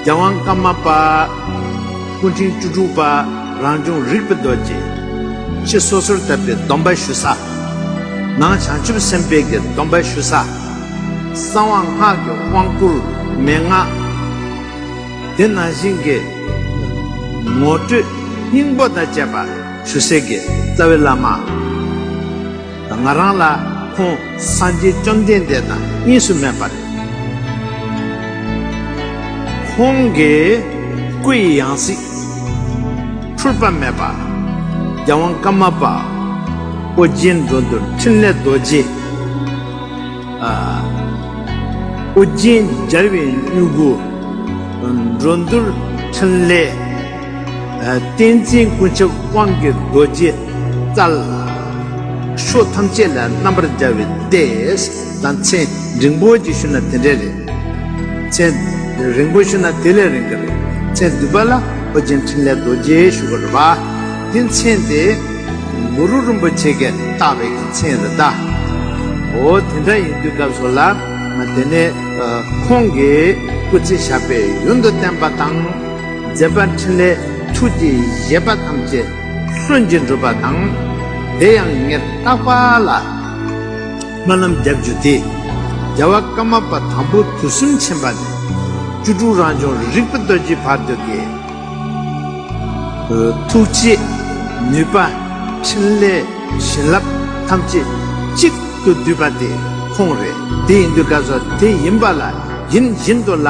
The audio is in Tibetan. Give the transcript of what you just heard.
རྒྱལ་དབང་བཀའ་མ་པ། སྐུ་ཕྲེང་བཅུ་དྲུག་པ་རང་བྱུང་རིག་པ་རྡོ་རྗེ། ཕྱི་སོ་སོར་བཏབ་པའི་སྡོམ་པ་ཞུ་ས། ནང་བྱང་ཆུབ་སེམས་དཔའི་གྱི་སྡོམ་པ་ཞུ་ས། གསང་བ་སྔགས་ཀྱི་དབང་བསྐུར་མན་ངག། དེ་ནང་བཞིན་གྱི། ངོ་སྤྲོད་སྙིང་པོ་དང་བཅས་པ་ཞུ་སའི་གྱི་རྩ་བའི་བླ་མ། ང་རང་ལ་ཁོང་སངས་རྒྱས་བཅོམ་ལྡན་འདས་དང་གཉིས་སུ་མེད་པར། ཁོང་གི་སྐུ་ཡི་ཡང་སྲིད། འཁྲུལ་པ་མེད་པ། རྒྱལ་དབང་བཀའ་མ་པ། ཨོ་རྒྱན་འགྲོ་འདུལ་འཕྲིན་ལས་རྡོ་རྗེ། ཨོ་རྒྱན་སྦྱར་བའི་སྨྱུ་གུ། འགྲོ་འདུལ་འཕྲིན་ལས། བསྟན་འཛིན་ཀུན་ཁྱབ་དབང་གི་རྡོ་རྗེ་རྩལ། ཕྱོགས་ཐམས་ཅད་ལ་རྣམ་པར་སྦྱར་བའི་ལྟས་དང་མཚན་རིང་པོ་ཅིག་ཞུ་ན་དེ་འདྲའི་རེད། མཚན་རིང་པོ་ཞུ་ན་དེ་ལས་རིང་གི་རེད། མཚན་བསྡུས་པ་ལ་ཨོ་རྒྱན་འཕྲིན་ལས་རྡོ་རྗེ་ཞུ་བར་བ། དེ་མཚན་དེ་གུ་རུ་རིན་པོ་ཆེ་ཀས་བཏགས་པའི་གི་མཚན་རེད་ད། འོ་དེ་འདྲ་ཡིན་དུས་སྐབས་སུ་ལ་དེ་ནས་ཁོང་གིས་སྐུ་ཚེ་བཞག་པའི་ཡུན་དུ་བསྟན་པ་དང། མཛད་པ་འཕྲིན་ལས་ཐུགས་ཀྱི་བཞེད་པ་ཐམས་ཅད་གསོན་ཅིང་འགྲུབ་པ་དང། བདེ་ཡང་ངེས་རྟག་པ་ལ། སྨོན་ལམ་རྒྱབ་འཇུག་སྟེ། རྒྱལ་བ་བཀའ་མ་པ་དང་པོ་དུས་གསུམ་ཆེན་པ་ནས། བཅུ་དྲུག་རང་བྱུང་རིག་པ་སྟོད་ཀྱི་བར་དུ་ཀྱེ། ཐུགས་རྗེ། ནུས་པ། འཕྲིན་ལས། བྱིན་རླབས། ཐམས་ཅད་གཅིག་ཏུ་བསྡུས་པ་དེ་ཁོང་རེད། དེ་ཡིན་དུས་བཀའ་སོགས་དེ་ཡིན་པ་ལ་ཡིན་བཞིན་དུ་ལ།